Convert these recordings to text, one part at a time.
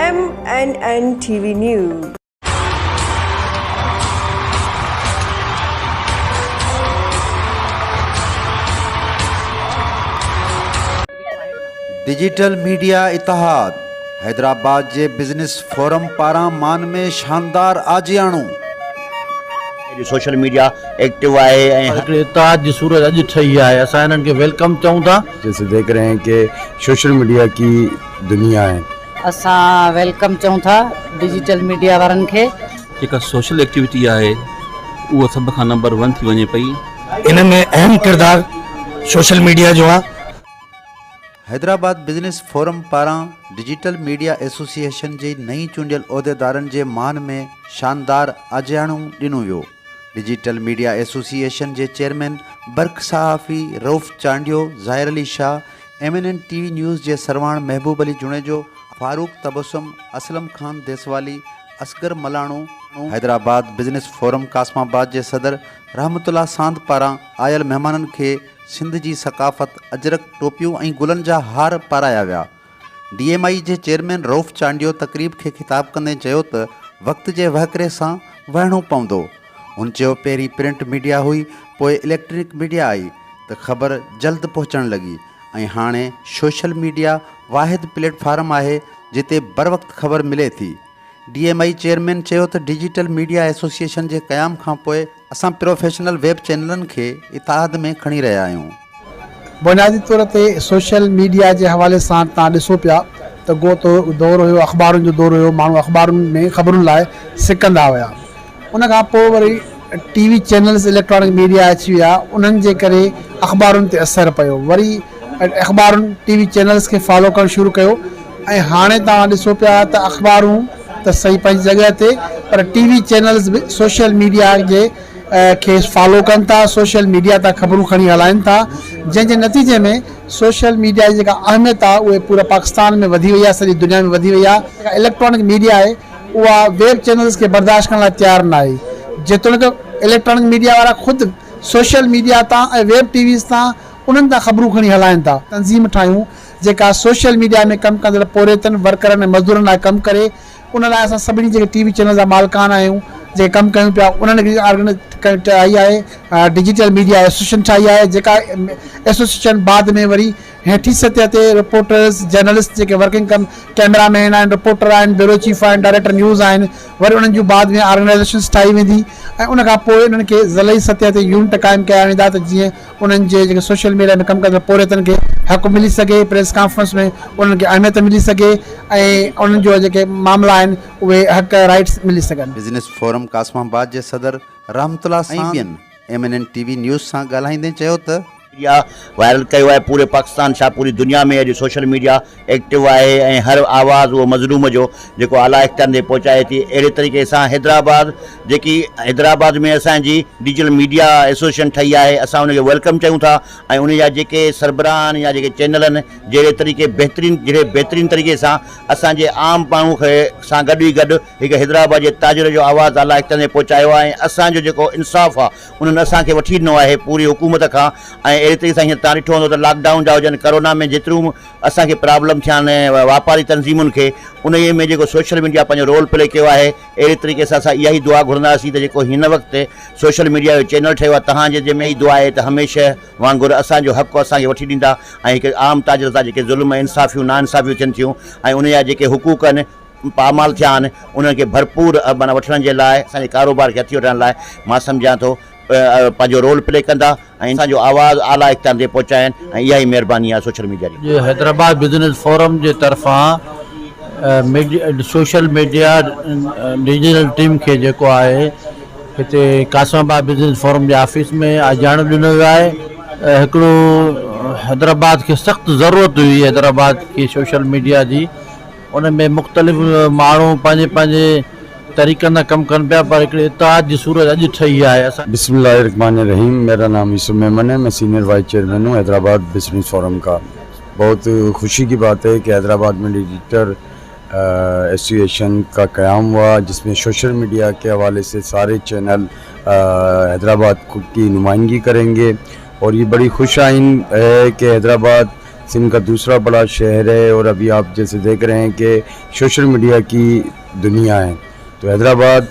M N N ٽي V news. Digital media اتحاد حيدرآباد جي business forum پاران مان ۾ شاندار آجياڻو. اڄ سوشل ميڊيا ايڪٽو آهي ۽ هر هڪڙي اتحاد جي صورت اڄ ٺهي آهي اسان هنن کي ويلڪم چئون ٿا. جيسي ديکھ رهي هين ڪي سوشل ميڊيا ڪي دنيا هي. اسان ويلڪم چئون ٿا ڊجيٽل ميڊيا وارن کي. جيڪا سوشل ايڪٽيوٽي آهي اهو سڀ کان نمبر ون ٿي وڃي پئي. ان ۾ اهم ڪردار سوشل ميڊيا جو آهي. حيدرآباد بزنس فورم پاران ڊجيٽل ميڊيا ايسوسيئيشن جي نئين چونڊيل عهديدارن جي مان ۾ شاندار آجياڻو ڏنو ويو. ڊجيٽل ميڊيا ايسوسيئيشن جي چيئرمين برک صحافي Rauf Chandio, Zahir Ali Shah, M N N ٽي وي نيوز جي سرواڻ Mehboob Ali Junejo, Farooq Tabassum, Aslam Khan Deswali, Asghar Malano, Hyderabad business forum Qasimabad جي صدر رحمت الله ساند پاران آيل مهمانن کي سنڌ جي ثقافت اجرڪ، ٽوپيون ۽ گلن جا هار پارايا ويا. ڊي ايم آئي جي چيئرمين رئوف چانڊيو تقريب کي خطاب ڪندي چيو ته وقت جي وهڪري سان وهڻو پوندو. هن چيو پهرين پرنٽ ميڊيا هئي پوء اليڪٽرانڪ ميڊيا آئي ته خبر جلد پهچڻ لڳي ۽ هاڻي سوشل ميڊيا واحد پليٽ فارم آهي جتي بروقت خبر ملي ٿي. ڊي ايم آئي چيئرمين چيو ته ڊجيٽل ميڊيا ايسوسيئيشن جي قيام کانپوء اسان پروفيشنل ويب چينلن کي اتحاد ۾ کڻي رهيا آهيون. بنيادي طور تي سوشل ميڊيا جي حوالي سان توهان ڏسو پيا ته اڳو دور هيو اخبارن جو دور هيو ماڻهو اخبارن ۾ خبرن لاء سڪندا هيا ان کان پوء وري T V channels electronic media اچي ويا انهن جي ڪري اخبارن تي اثر پيو وري اخبارن، ٽي وي چينلز کي فالو ڪرڻ شروع ڪيو ۽ هاڻي توهان ڏسو پيا ته اخبارون ته صحيح پنهنجي جڳهه تي پر ٽي وي چينلز به سوشل ميڊيا جي کي فالو ڪن ٿا، سوشل ميڊيا تان خبرون کڻي هلائن ٿا جنهن جي نتيجي ۾ سوشل ميڊيا جي جيڪا اهميت آهي اهي پوري پاڪستان ۾ وڌي وئي آهي سڄي دنيا ۾ وڌي وئي آهي. جيڪا اليڪٽرانڪ ميڊيا آهي اها ويب چينلز کي برداشت ڪرڻ لاء تيار ناهي جيتوڻيڪ اليڪٽرانڪ ميڊيا وارا خود سوشل ميڊيا تان ۽ ويب ٽي ويز تان انهن تان خبرون کڻي هلائين ٿا، تنظيم ٺاهيون جيڪا سوشل ميڊيا ۾ ڪم ڪندڙ پورهيتن، ورڪرن ۽ مزدورن لاء ڪم ڪري، ان لاء اسان سڀني جيڪي ٽي وي چينل جا مالڪان آهيون، جيڪي ڪم ڪيون پيا، انهن هڪڙي آرگنائيزيشن ٺاهي آهي، ڊجيٽل ميڊيا ايسوسيئيشن ٺاهي آهي، جيڪا ايسوسيئيشن بعد ۾ وري هيٺين سطح تي رپورٽرز، جرنلسٽ جيڪي ورڪنگ ڪم ڪئميرا مين آهن، رپورٽر آهن، بيورو چيف آهن، ڊائريڪٽر نيوز آهن، وري انهن جون بعد ۾ آرگنائيزيشنز ٺاهي ويندي ۽ ان کان پوء انهن کي ضلعي سطح تي يونٽ قائم ڪيا ويندا ته جيئن انهن جي جيڪي سوشل ميڊيا ۾ ڪم ڪندڙ پورهيتن کي حق ملي سگهي، پريس ڪانفرنس ۾ انهن کي اهميت ملي سگهي ۽ انهن جو جيڪي معاملا آهن اهي حق رائيٽس ملي سگهن. بزنس فورم قاسم آباد جي صدر رحمت الله سان ۽ ٻين ايم اين اين ٽي وي نيوز سان ڳالهائيندي چيو ته. ميڊيا وائرل ڪيو آهي پوري پاڪستان ڇا پوري دنيا ۾ اڄ سوشل ميڊيا. ايڪٽو آهي ۽ هر آواز اهو مظلوم جو جيڪو اعليٰ اختيارن تائين پهچائي ٿي اهڙي طريقي سان حيدرآباد جيڪي حيدرآباد ۾ اسان جي ڊجيٽل ميڊيا ايسوسيئيشن ٺهي آهي اسان ان کي ويلڪم چيون ٿا ۽ ان جا جيڪي سربراهه آهن يا جيڪي چينل آهن جهڙي طريقي بهترين جهڙي بهترين طريقي سان اسان جي عام ماڻهو کي سان گڏ ئي گڏ هڪ حيدرآباد جي تاجر جو آواز اعليٰ اختيارن تائين پهچايو آهي ۽ اسان جو جيڪو انصاف آهي انهن اسان کي وٺي ڏنو آهي پوري حڪومت کان ۽ اهڙي طريقي سان هينئر تان ڏٺو هوندو ته لاڪ ڊائون جا هجن ڪرونا ۾ جيتريون اسان کي پرابلم ٿيا آهن ۽ واپاري تنظيمن کي انهيء ۾ جيڪو سوشل ميڊيا پنهنجو رول پلي ڪيو آهي اهڙي طريقي سان اسان اها ئي دعا گهرنداسين ته جيڪو هن وقت سوشل ميڊيا جو چينل ٺهيو آهي تهان جي ذمي اها ئي دعا آهي ته هميشه وانگر اسان جو حق اسان کي وٺي ڏيندا ۽ هڪ عام تاجر سان جيڪي ظلم ۽ انصافيون نا انصافيون ٿين ٿيون ۽ انهن جا جيڪي حقوق آهن پامال ٿيا آهن انهن کي ڀرپور معنيٰ وٺڻ جي لاء اسان جي ڪاروبار کي هٿي وٺڻ لاء مان سمجهان ٿو پنهنجو رول پلي ڪندا ۽ اسان جو آواز اعليٰ اختيارن تائين پهچائن ۽ اها ئي مهرباني آهي سوشل ميڊيا جي. حيدرآباد بزنس فورم جي طرفان سوشل ميڊيا ڊويزنل ٽيم کي جيڪو آهي هتي قاسم آباد بزنس فورم جي آفيس ۾ آجياڻو ڏنو ويو آهي هڪڙو حيدرآباد کي سخت ضرورت هئي حيدرآباد کي سوشل ميڊيا جي ان ۾ مختلف ماڻهو پنهنجي پنهنجي طريقن سان ڪم ڪن پيا پر هڪڙي اتحاد جي صورت اڄ ٺهي آهي اسان بسم الله الرحمٰن الرحيم ميرا نام يوسف ميمن هي مين سينئر وائيس چيئرمين هون حيدرآباد بزنس فورم ڪا بهت خوشي ڪي بات هي ڪي حيدرآباد مين ايڊيٽر ايسوسيئيشن ڪا قيام هوا جس مين سوشل ميڊيا ڪي حوالي سي ساري چينل حيدرآباد ڪي نمائندگي ڪرينگي اور يي بڙي خوش آئين هي ڪي حيدرآباد سنڌ ڪا دوسرا بڙا شهر هي اور ابهي آپ جيسي ديک رهي هين ڪي شوشل ميڊيا ڪي دنيا هي تو حيدرآباد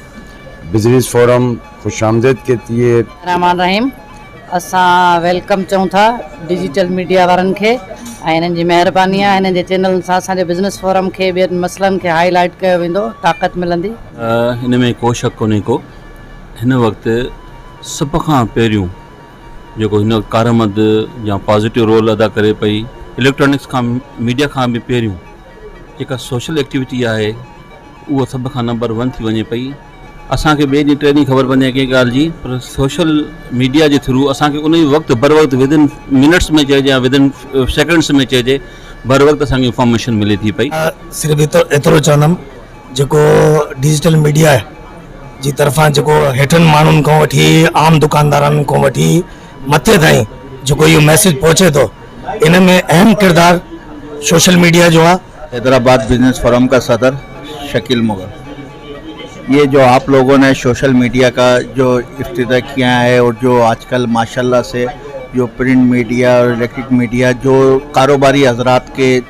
بزنيس فورم خوش آمديد ڪهتي هي. رحمان الرحيم اسان ويلڪم چئون ٿا ڊجيٽل ميڊيا وارن کي ۽ هنن جي مهرباني آهي هنن جي چينلن سان اسان جي بزنس فورم کي ٻين مسئلن کي هائي لائيٽ ڪيو ويندو طاقت ملندي. ان ۾ ڪو شڪ ڪونهي ڪو هن وقت سڀ کان پهريون جيڪو هن وقت ڪارآمد يا پازيٽو رول ادا ڪري پئي اليڪٽرانڪس کان ميڊيا کان به پهريون جيڪا سوشل ايڪٽيوٽي آهي اهو سڀ کان نمبر ون ٿي وڃي پئي اسان کي ٻئي ڏينهن ٽئي ڏينهن خبر پوندي آهي ڪنهن ڳالهه جي پر سوشل ميڊيا جي ٿرو اسان کي ان وقت بر وقت ودن منٽس ۾ چئجي يا ودن سيڪنڊس ۾ چئجي بر وقت اسان کي انفارميشن ملي ٿي پئي صرف ايترو چوندم جيڪو ڊجيٽل ميڊيا جي طرفان جيڪو هيٺن ماڻهن کان وٺي عام دڪاندارن کان وٺي مٿي تائين جيڪو اهو ميسيج پهچي ٿو ان ۾ اهم ڪردار سوشل ميڊيا جو آهي. حيدرآباد بزنس فورم کا صدر شڪيل مغل يي جو آپ لوگو ني سوشل ميڊيا کا جو افتتاح کيا هي اور جو آج کل ماشاء الله سي جو پرنٽ ميڊيا اور اليڪٽرڪ ميڊيا جو ڪاروباري حضرات کي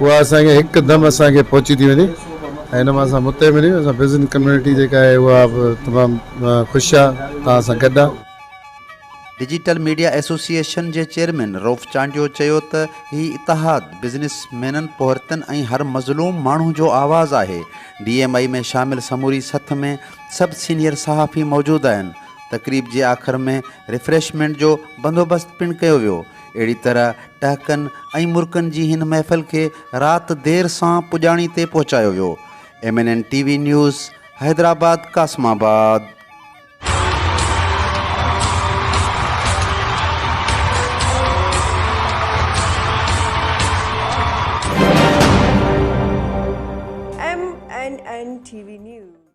اها اسان کي هڪدم اسان کي پهچي ٿي وڃي ۽ ان مان اسان متي ملي اسان بزنس ڪميونٽي جيڪا آهي اها به تمام خوش آ توهان سان گڏ آ. ڊجيٽل ميڊيا ايسوسيئيشن جي چيئرمين رئوف چانڊيو چيو ته هي اتحاد بزنس مينن، پورهيتن ۽ هر مظلوم ماڻهو جو آواز آهي، ڊي ايم آئي ۾ شامل سموري سٿ ۾ سڀ سينيئر صحافي موجود آهن، تقريب جي آخر ۾ ريفريشمينٽ جو بندوبست پڻ ڪيو ويو. اهڙي طرح ٽهڪن ۽ مرڪن جي هن محفل کي رات دير سان پڄاڻي تي پهچايو ويو. ايم اين اين ٽي V news, Hyderabad Qasimabad. M N N ٽي وي نيوز.